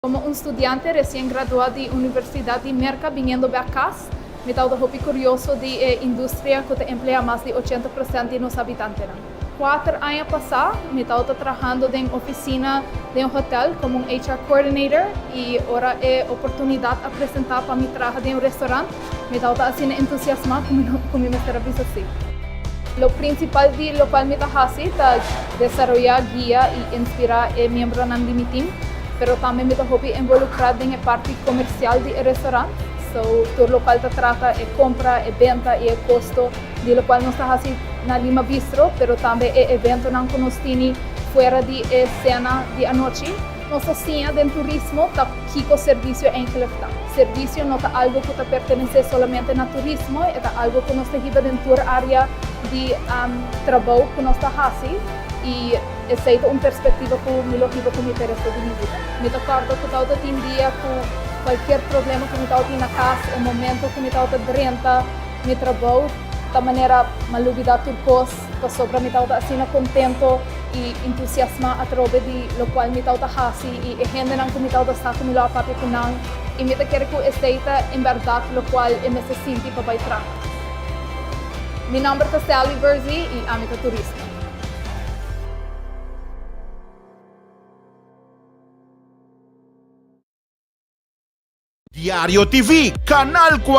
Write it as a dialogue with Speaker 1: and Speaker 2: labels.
Speaker 1: Como un studiante recien gradua di Universidad di Merca biniendo bek cas, mi ta awor hopi curioso di e industria cu ta emplea mas di ochenta procent di nos habitantenan. Cuater aña pasa mi ta awor ta trahando den oficina den un hotel como un HR coordinator y ora e oportunidad a presenta pa mi traha den un restaurant, Mi tabata asina entusiasmá ku mi mester a bisa sí. Lo prinsipal di lokual mi ta hasi ta desaroyá, guia i inspirá e miembronan di mi tim. Pero tambe mi ta hopi envolukrá den e parti komersial di e restorant. So, tur lokual ta trata e kompra, e benta i e kosto di lokual nos ta hasi na Lima Bistro, pero tambe e eventonan ku nos tini fuera di e sena di anochi. Nos a siña den turismo ta kiko servisio Engelef ta. Servisio no ta algo ku ta pertenesé solamente na turismo, e ta algo ku nos ta hiba den tur área di trabou ku nos ta hasi i esei ta un perspektiva ku mi lo hiba ku mi peresto di mi vida. Mi ta kòrda ku tabata tin dia ku kualkier problema ku mi tabata tin na kas, e momento ku mi tabata drenta mi trabou ta manera m'a lubidá tur kos. Pasobra mi tabata asina kontento i entusiasmá atrobe di lokual mi tabata hasi i e hendenan ku mi tabata sa ku mi lo a papia ku nan, i mi ta kere ku esei ta en bèrdat lokual e mester sinti pa bai traha. Mi nòmber ta Sally Verzi i ami ta turista. Diario TV, Canal 40.